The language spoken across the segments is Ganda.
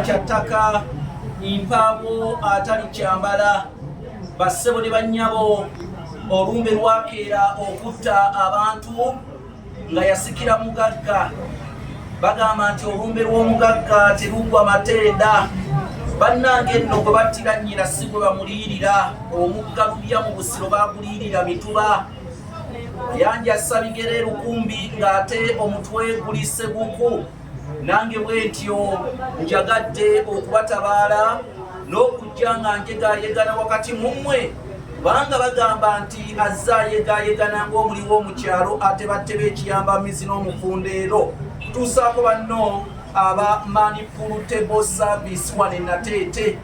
kya ttaka mpaawo atali kyambala bassebo ne bannyabo olumbe lwakeera okutta abantu nga yasikira mugagga bagamba nti olumbe lw'omugagga teruggwa mateeda bannange nno gwe battira nnyina si gwe bamuliirira omugga lubya mu busiro baguliirira mituba yanja sabigere lukumbi ng'ate omutwe guli seguku nange bwentyo njagadde okubatabaala n'okujja nga njegayegana wakati mu mmwe kubanga bagamba nti azze ayegayegana ng'omuliwo mu kyalo ate batte b'ekiyamba mizi n'omufundeero tuusaako banno aba manipultable service wane nateete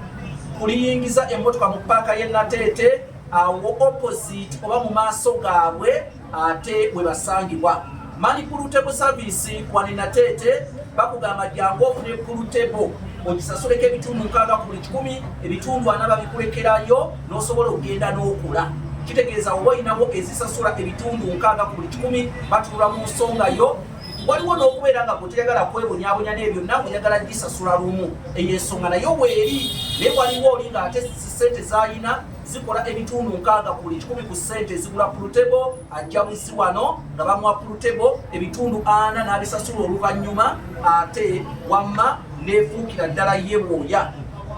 kuliyingiza emmotoka mu paaka y'e nateete awo opposite oba mu maaso gaabwe ate we basangibwa mani kulutebo saviisi wani nateete bakugamba jangu ofune kulutebo ogisasuleko ebitundu nkaaga ku buli kikumi ebitundu ana babikulekerayo n'osobola okugenda n'okula kitegeeza oba olinawo ezisasula ebitundu nkaaga ku buli kikumi batulula mu nsonga yo waliwo n'okubeera nga gweteyagala kwebonyabonya naye byonna oyagala gisasula lumu eyo ensonga nayo weeri naye waliwo oli ng'ate sente zalina zikola ebitundu nkaaga ku buli kikumi ku ssente ezigula pulutebo ajja buzi wano nga bamuwa pulutebo ebitundu ana n'abisasula oluvannyuma ate wamma neefuukira ddala ye bwoya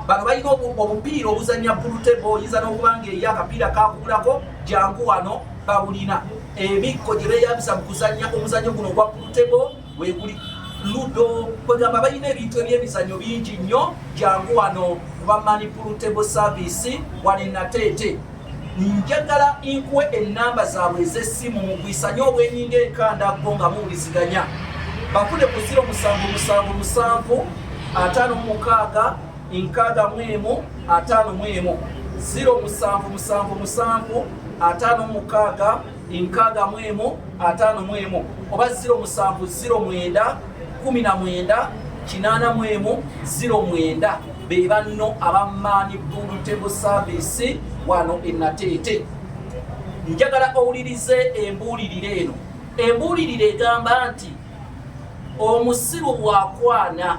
bano balina obupiira obuzannya pulutebo oyinza n'okuba ngaeyo akapiira kakugulako jangu wano babulina ebikko gye beeyambisa mu kuzannya omuzannyo guno ogwa pulutebo weguli ludo kwegamba balina ebintu ebyemizanyo bingi nnyo jangu wano kuba manipultable service wali nateete njagala nkuwe enamba zaabwe ez'essimu mugwisanye obwenyinga enkandaggo nga muwuliziganya bafune ku 0 musanvu musanvu musanvu ataano mumukaaga enkaaga mu emu ataano mu emu 0 musanvu musanvu musanvu ataano mumukaaga enkaaga mu emu ataano mu emu oba ziro musanvu ziro mwenda kumi na mwenda kinaana mu emu ziro mwenda be banno abamaanyi bulutebo saaviisi wano enateete njagala owulirize embuulirire eno embuulirire egamba nti omusiru bwakwana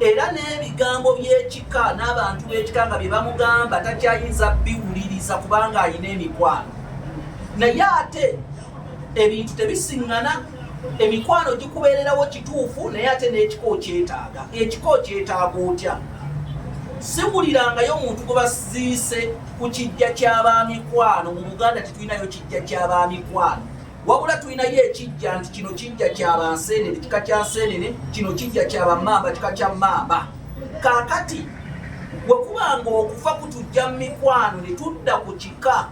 era n'ebigambo by'ekika n'abantu b'ekika nga bye bamugamba takyayinza biwuliriza kubanga alina emikwano naye ate ebintu tebisiŋŋana emikwano gikubeererawo kituufu naye ate n'ekika okyetaaga ekika okyetaaga otya siwulirangayo omuntu gwe basiise ku kijja ky'abamikwano mu buganda tetulinayo kijja ky'abamikwano wabula tulinayo ekijja nti kino kijja kya bansenene kika kya nsenene kino kijja kya bamamba kika kya mamba kakati wekuba nga okufa kutujja mu mikwano ne tudda ku kika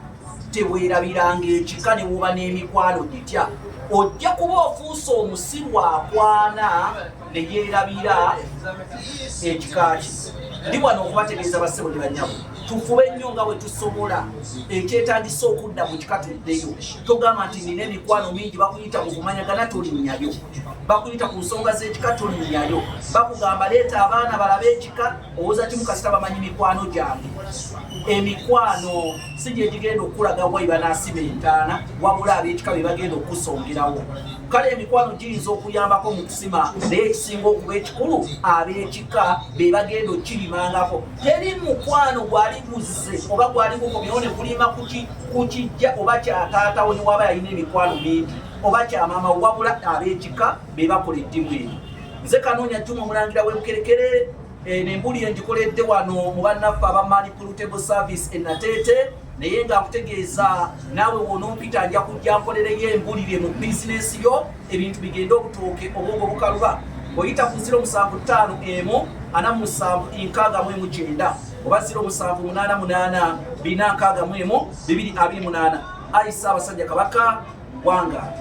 teweerabiranga ekika ne wuba n'emikwano gitya ojja kuba ofuuse omusiru akwana ne yeerabira ekika kye ndi wano okubategeeza bassebo ne banyabo tufube nnyo nga bwe tusobola ekyetagisa okudda mu kika tuddeyo togamba nti nina emikwano mingi bakuyita mu kumanyagana tolinnyayo bakuyita ku nsonga z'ekika tolinnyayo bakugamba leeta abaana balabe ekika owoza ti mukasita bamanyi mikwano gyange emikwano si gyegigenda okukulaga waiba n'asima entaana wabula ab'ekika be bagenda okukusongerawo kale emikwano giyinza okuyambako mu kusima naye ekisinga okuba ekikulu ab'ekika be bagenda okirimangako teri mukwano gwali guzze oba gwali gukomyewo ne kulima ku kijja oba kyataatawo ne waba yalina emikwano mingi oba kyamaama wabula ab'ekika be bakola eddimu eno nze kanoonya juma omulangira w'ebukerekere eh, nembuli engikoledde wano mu bannaffe aba manipultable service enateete naye nga nkutegeeza naawe wonompita nja kujja nkolereyo embulire mu bizinensi yo ebintu bigende obutooke obwongo bukaluba oyita ku ziro musanvu ttaano emu ana mu musanvu enkaaga mu emu kyenda oba ziro musanvu munaana munaana bina nkaaga mu emu bibiri abiri munaana ayi ssaabasajja kabaka wangaali